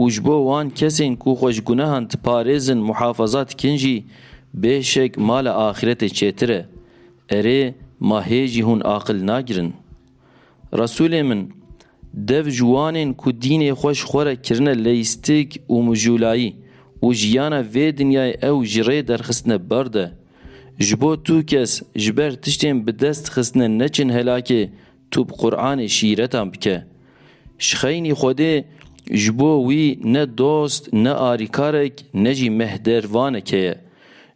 û ji bo wan kesên ku xwe ji gunehan diparêzin muhafaza dikin jî bê şek mala axîretê çêtir e. Erê, ma hê jî hûn aqil nagirin? Resûlê min, dev ji wan ên ku dînê xwe ji xwe re kirine leyîstik û mijûlayî û jiyana vê dinyayê ew ji rê derxistine bar de. Ji bo tu kes ji ber tiştên bi dest xistine neçin helakê, Tu bi Quranê şîretan bike. Ji xeynî Xwedê ji bo wî ne dost, ne arîkarek, ne jî mehdervaneke ye.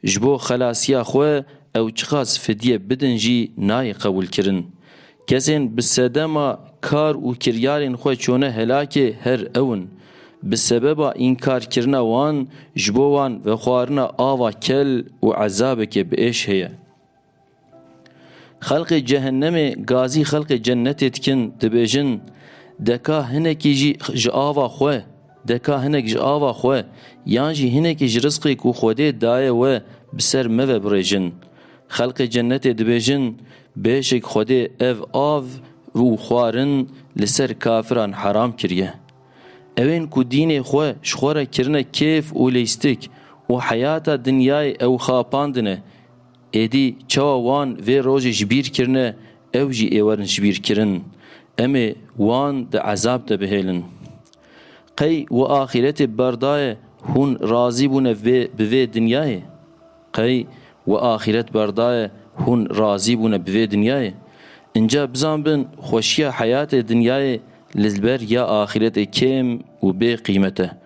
Ji bo xelasiya xwe ew çiqas fidye bidin jî nayê qebûlkirin. Kesên bi sedema kar û kiryarên xwe çûne helakê her ew in. Bi sebeba înkarkirina wan ji bo wan vexwarina ava kel û ezabeke bi êş heye. Xelqê cehennemê gazî xelqê cennetê dikin, dibêjin, Deka hinekî jî ji ava xwe, deka hinek ji ava xwe yan jî hinekî ji rizqê ku Xwedê daye we bi ser me ve birêjin. Xelqê cennetê dibêjin, Bêşik Xwedê ev av û xwarin li ser kafiran heram kiriye. Ewên ku dînê xwe ji xwe re kirine kêf û lîstik û heyata dinyayê ew xapandine, Êdî çawa wan vê rojê ji bîr kirine ew jî ê werin ji bîr kirin. Em ê wan di ezab de bihêlin. Qey wi axîretê bi ber daye hûn razî bûne vê bi vê dinyayê? Qey wi axîret ber daye hûn razî bûne bi vê dinyayê? Înca bizan bin xweşiya heyatê dinyayê li ber ya axîretê kêm û bê qîmet e.